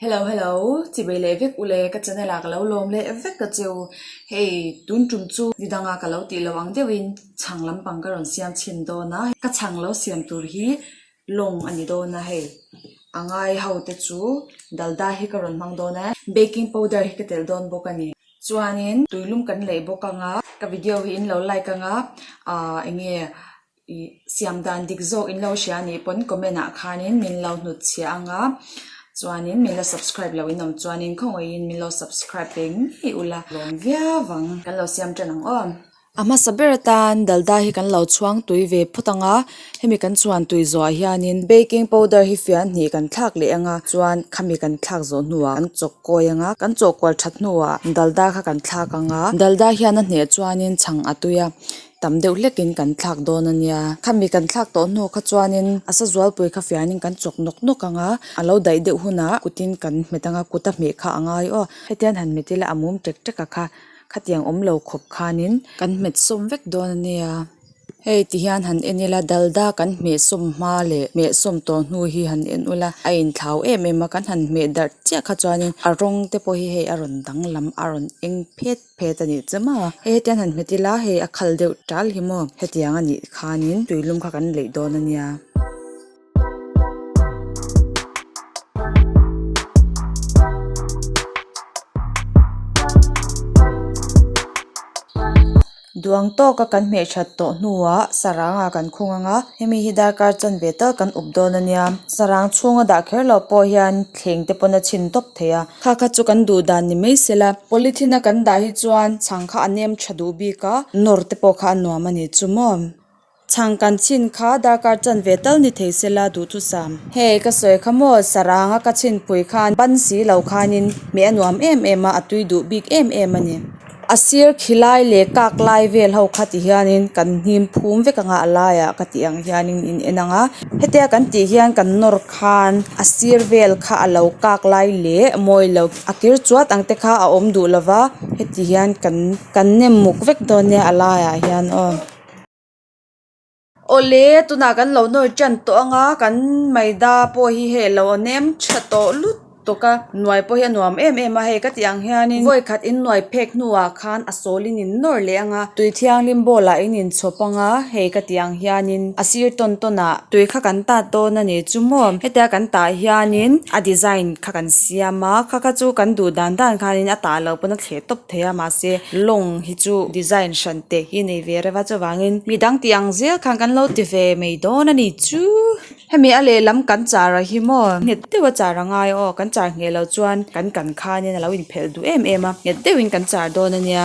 Hello hello chibei leh vek ule ka channel ah ka lo lawm leh vek a che u hei tun tum chu ni dang a ka lo tih lo ang deuh in chhang lam pang ka rawn siam chhin dawn a ka chhang lo siam tur hi long a ni dawn a hei a ngai ho te chu dal da hi ka rawn hmang dawn a baking powder hi ka telh dawn bawk a ni chuan in tui lum kan lei bawk ang a ka video hi in lo like ang a ah eng nge siam dan dik zawk in lo hria a nih pawn comment ah khanin min lo hnut chhia ang a chuanin min la subscribe lo in awm chuanin khawngaihin min lo subscribe ve ngei ula lawm viau ang kan lo siam tan ang aw. A hmasa ber atan dalda hi kan lo chhuang tui ve phawt ang a hemi kan chhuan tui zawhah hianin baking powder hi fian hnih kan thlak leh ang a chuan khami kan thlak zawh hnuah kan chawk kawi ang a kan chawk kual that hnuah dalda kha kan thlak ang a dalda hian a hneh chuanin chhang a tui a. Tam deuh hlekin kan thlak dawn a nia. Khami kan thlak tawh hnu kha chuanin a sa zualpui kha fianin kan chawk nawk nawk ang a. A lo daih deuh hunah kutin kan hmet ang a, kuta hmeh kha a ngai aw. Hetian han hmet ila a mum ṭek ṭek a kha khatiang awm lo khawp khanin kan hmet sawm vek dawn a nia. Hei tihian han en ila Dalda kan hmeh sawm hma leh hmeh sawm tawh hnu hi han en ula, a inthlau em em a. Kan han hmeh darh chiah kha chuanin a rawngte pawh hi hei a rawn danglam a rawn eng phet. Phet a nih che maw? Hetiang han hmet ila hei a khal deuh tal hi maw? Hetiang a nih khanin tuilum kha kan leih dawn a nia. Duang tawka kan hmehṭhat tawh hnuah saranga kan khung ang a, hemi hi darkar chanve tal kan up dawn a nia. Sarang chhunga dah kher loh pawh hian thleng te pawn a chhin tawp thei a. Kha kha chu kan duh dan ni mai se la, polythene a kan dah hi chuan chhang kha a nem tha duh bik a, nawr te pawh kha a nuam a ni chu maw. Chhang kan chhin kha darkar chan ve tal ni thei se la duhthusam. Hei ka sawi kha maw, sarang a ka chhinpui khan ban si lo khanin meh a nuam em em a, a tui duh bik em em a ni. A sir khi lai leh kak lai vel ho kha ti hian in kan hnim phum vek ang a a lai ah ka tih ang hian in in en ang a heti a kan tih hian kan nawr khan a sir vel kha a lo kak lai leh mawi lo a kir chuat ang te kha a awm duh lo va heti hian kan kan nem muk vek dawn nia a lai ah hian aw. Awle tunah kan lo nawr ṭan tawh anga kan Maida pawh hi hei lo nem ṭha tawh lut tawk a hnuai pawh hi a nuam em em a hei ka tih ang hianin vawi khat in hnuai phek hnuah khan a sawl in in nawr leh anga tui thianghlim ball ah in in chhaw panga hei ka tih ang hianin a sir tawn tawn ah tui kha kan ta dawn a ni chu maw heti a kan tah hianin a design kha kan siam a kha kha chu kan duh dan dan khan in a tah lo pawn a thleh tawp thei a mahse lawng hi chu design hran-- teh hi nei ve reva chuvangin mi dang tih ang zel khan kan lo ti ve mai dawn a ni chu hemi a lehlam kan char a hi maw nghet deuh a char a ngai aw kan char ngheh lo chuan kan kan khanin a lo in phelh duh em em a nghet deuh in kan char dawn a nia.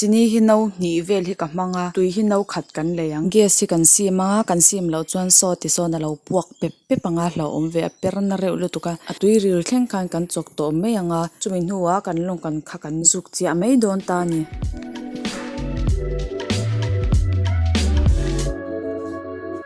Chini hi no hnih vel hi ka hmang a, tui hi no khat kan lei ang. Gas hi kan sim a, kan sim loh chuan saw ti sawn a lo puak pep pep ang a, hlauhawm ve a per na reuh lutuk a, a tui ril thleng khan kan chawk tawh mai ang a, chumi hnuah kan lawng kan kha kan zuk chiah mai dawn ta a ni.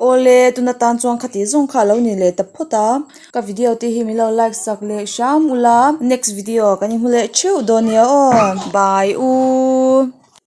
Awle tuna tan chuan khati zawng kha alo ni leh ta phawt a ka video te hi milo like sak leh hram ula next video kan i hmu leh theuh dawn nia aw bye u.